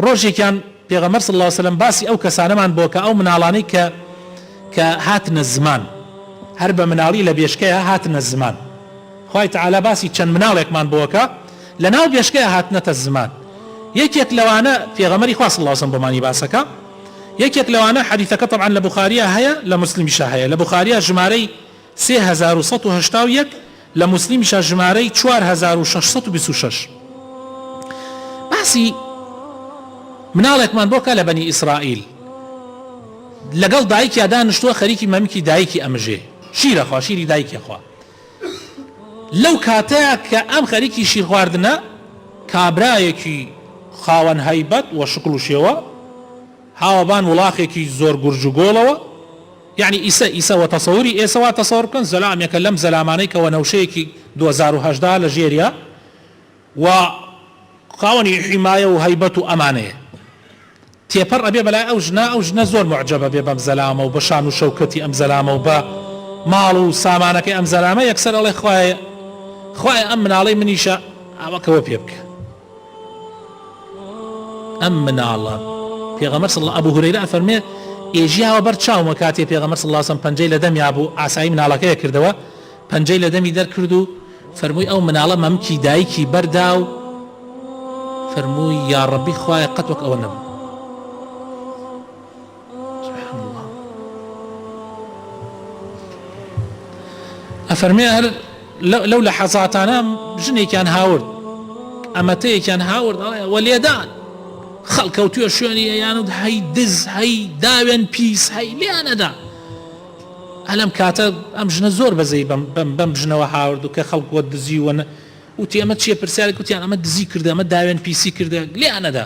ڕۆژێکیان پێغەمبەر صلی اللە علیە وسلم باسی ئەو کەسانەمان بۆ کە ئەو مناڵانەی کە کە هاتنە زمان هەر بە مناڵی لە بێشکەیە هاتنە زمان خوای تعالی باسی چەند مناڵێکمان بۆکە لە ناو بێشکەیە هاتنەتە زمان یەکێک لەوانە پێغەمەری خوا صلی اللە علیە وسلم بۆمانی باسەکە یەکێک لەوانە حەدیثەکە طبعا لە بخاریە هەیە لە مسلمیشە هەیە لە بخاریە ژمارەی سێ هەزار و سەد و هەشتا و یەک، لە موسلیمیشە ژمارەی چوار هەزار و شەش سەد و بیست و شەش. باسی مناڵێکمان بۆ بکە لە بەنی ئیسرائیل لەگەڵ دایکیا دانشتووە خەریکی مەمکی دایکی ئەمژێ شیرە خوا شیری دایکی خوا لەو کاتەیە کە ئەم خەریکی شیرخواردنە کابرایەکی خاوەن هەیبەت و شکڵ و شێوە هاوەبان وڵاخێکی زۆر گورج و گۆڵەوە یەعنی ئیسە ئیسە وە تەسەوری ئێسە وا تەسەور بکەن زەلامێکە لەم زەلامانەی کە وەنەوشەیەکی دوەزار و هەژدە لە ژێریا و خاوەنی حیمایە و هەیبەت و ئەمانەیە تێپەر ئەبێ بەلای ئەو ژنە ئەو ژنە زۆر موعجەب ئەبێ بەم زەلامە و بە شان و شەوکەتی ئەم زەلامە و بە ماڵ و سامانەکەی ئەم زەلامە یەکسەر ئەڵێ خوایە خوایە ئەم مناڵەی منیشە ئاوەکەوە پێ بکە. ئەم مناڵە پێغەمبەر صلی اللە، ئەبو هورەیرە ئەفەرموێت، ئێژیاوە بەر چاومە کاتێ پێغەمبەر صلی اللە علیە وسلم پەنجەی لە دەمیا بوو ئاسایی مناڵەکەیە کردەوە پەنجەی لە دەمی دەرکرد و فەرمووی ئەو مناڵە مەمکی دایکی بەردا و فەرمووی یاڕەبی خوایە قەت وەک ئەوە نەبوو. ئەفەرمێ هەر لەو لە حەزاتانە ژنێکیان هاورد ئەمەتەیەکیان هاورد ئەڵێ وە لێدان خەڵکەوتوێ شوێنی یانود هەی دز هەی داوێن پیس هەی لێیانەدا ئەلم کاتە ئەم ژنە زۆر بەزەی بم بم بم ژنەوە هاورد و کە خەڵک وە دزیوەە وتی ئەمە چیە پرسیارە کوتیان ئەمە دزی کردە ئەمە داوێن پیسی کردە لێیانەدا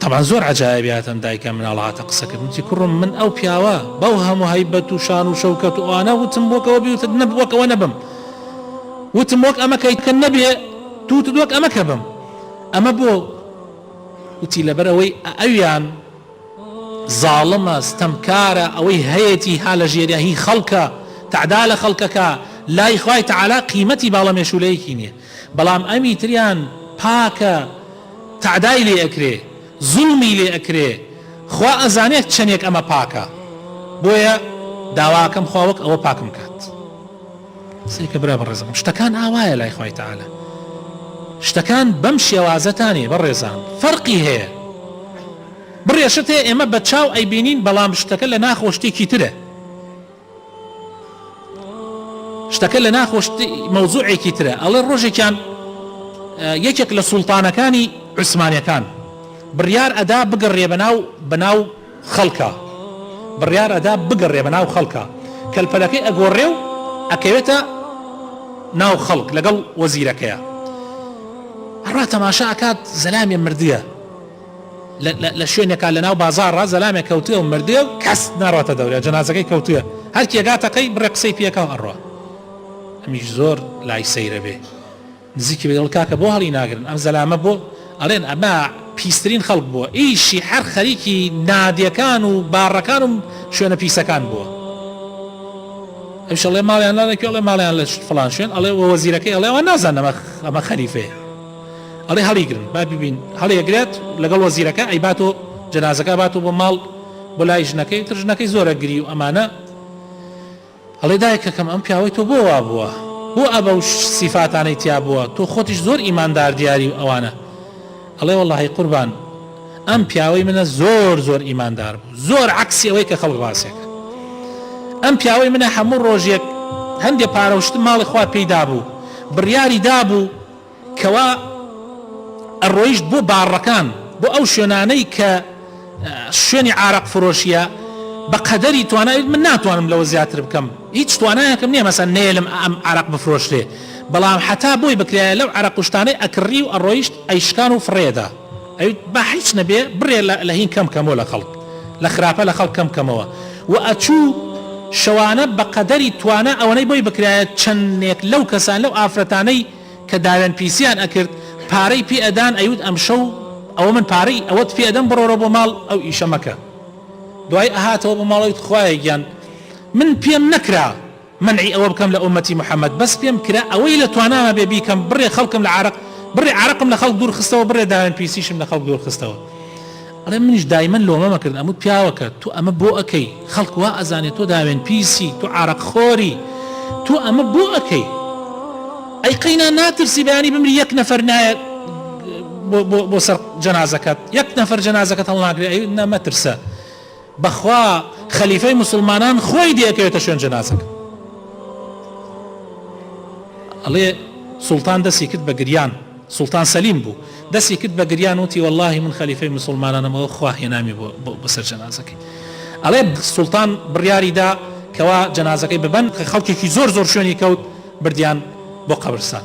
تەبعەن زۆر عەجایەبی هاتن دایکە مناڵە هاتە قسەکردن وتی کوڕم من ئەو پیاوە بەو هەموو هەیبەت و شان و شەوکەت و ئەوانە وتم وەک ئەوە بیوتت نەب وەک ئەوە نەبم وتم وەک ئەمە کەی کە نەبێ تو وتت وەک ئەمە کە بم ئەمە بۆ وتی لەبەر ئەوەی ئەویان زاڵمە ستەمکارە ئەوەی هەیەتی ها لە ژێریا هی خەڵکە تعدا لە خەڵکەکە لای خوای تعالا قیمەتی باڵە مێشولەیەکی نییە بەڵام ئەمی تریان پاکە تەعدای لێ ئەکرێ زوڵمی لێ ئەکرێ خوا ئەزانێ چەنێک ئەمە پاکە بۆیە داواکەم خوا وەک ئەوە پاکم کات سەیکە برا بەڕێزەکەم شتەکان ئاوایە لای خوای تەعالا شتەکان بەم شێوازەتانێ بەڕێزان فەرقی هەیە بڕێشت هەیە ئێمە بە چاو ئەیبینین بەڵام شتەکە لە ناخۆ شتێکی ترە شتەکە لە ناخۆش مەوزوعێکی ترە ئەڵێ ڕۆژێکیان یەکێک لە سوڵتانەکانی عوسمانەکان بڕیار ئەدا بگەڕێ بەناو بەناو خەڵکە بڕیار ئەدا بگەڕێ بەناو خەڵکە کەلپەلەکەی ئەگۆڕێ و ئەکەوێتە ناو خەڵک لەگەڵ وەزیرەکەیە ڕا تەماشا ئەکات زەلامی مردە لە شوێنێکا لە ناو بازاڕا زەلامێک کەوتوێ و مردوێ و کەس ناڕاتە دەورێ جەنازەکەی کەوتوێ هەر کێ گاتە قەی بڕێ قسەی پێکا و ئەڕوا ئەمیش زۆر لای سەیرە بێ نزیکی بێ دڵ کاکە بۆ هەڵی ناگرن ئەم زەلامە بۆ ئەڵێن ئەمە پیسترین خەڵک بووە ئیشی هەر خەریکی نادیەکان و باڕەکان و شوێنە پیسەکان بووە ئەوشەڵێ ماڵیان ناڵێکی ئەڵێ ماڵیان لە فلان شوێن ئەڵێ وەزیرەکەی ئەڵێەوە نازانەمە ئەمە خەریفەیە ئەڵێ هەڵیگرن با ببین هەڵیگرێت لەگەڵ وەزیرەکە ئەی باتۆ جەنازەکە باتۆ بۆ ماڵ بۆ لای ژنەکەی تر ژنەکەی زۆرە گری و ئەمانە ئەڵێ دایکەکەم ئەم پیاوەی تۆ بۆ وا بووە بۆ ئەبە و سیفاتانەی تیا بووە تۆ خۆتیش زۆر ئیماندار دیاری و ئەوانە ئەڵێ وەڵی قوربان ئەم پیاوەی منە زۆر زۆر ئیماندار بوو زۆر عکسی ئەوەی کە خەڵ ڕاستێکە ئەم پیاوەی منە هەموو ڕۆژێک هەندێک پارەشتم ماڵی خوا پێیدا بوو بڕیاری دابوو کەوا ئەڕۆیشت بۆ باڕەکان بۆ ئەو شوێنانەی کە شوێنی عراق فرۆشیە بە قەدەری توانایت من ناتوانم لەوە زیاتر بکەم هیچ توانایەکەم نیە مەسە نێلم ئەم عراق بفرۆشتێ بەڵام حتا بۆی بکرایە لەو عراق کوشتانەی ئەکڕی و ئەڕۆیشت ئەیشکان و فڕێدا ئەویت با حیچ نەبێ بڕێ لە هین کەم کەمۆ لە خەڵک لە خراپە لە خەڵک کەم کەمەوە وە ئەچوو شەوانە بە قەدەری توانا ئەوەنەی بۆی بکرایە چەنێک لەو کەسان لەو ئافرەتانەی کە داوێن پیسیان ئەکرد پارەی پێ ئەدان ئەیوت ئەمشەو ئەوە من پارەی ئەوەت پێ ئەدەم بڕۆرە بۆ ماڵ ئەو ئیشە مەکە دوای ئەهاتەوە بۆ ماڵەویت خوایە گیان من پێم نەکرا مەنعی ئەوە بکەم لە ئوممەتی محمد بەس پێم کرا ئەوەی لە توانامە بێ بیکەم بڕێ خەڵکم لە عارەق بڕێ عارەقم لە خەڵک دوور خستەوە بڕێ داوێن پیسیشم لە خەڵک دوور خستەوە ئەڵێ منیش دایمەن لۆمەم ئەکردن ئەموت پیاوەکە تو ئەمە بۆ ئەکەی خەڵک وا ئەزانێ تۆ داوێن پیسی تو عارەق خۆری تو ئەمە بۆ ئەکەی ئەی قەینا ناترسی بەیانی بمری یەک نەفەر نایە بۆ بۆ بۆ سەر جەنازەکەت یەک نەفەر جەنازەکەت هەڵناگرێ ئەی نە مەترسە بەخوا خەلیفەی موسڵمانان خۆی دەیەکەوێتە شوێن جەنازەکە ئەڵێ سوڵتان دەستی کرد بە گریان سوڵتان سەلیم بوو دەستی کرد بە گریان وتی واللهی من خەلیفەی مسلمانانەمەوە خوا هێنامی بەسەر جەنازەکەی ئەڵێ سوڵتان بڕیاریدا کەوا جەنازەکەی ببەن خەڵکێکی زۆر زۆر شوێنی کەوت بردیان بۆ قەبرستان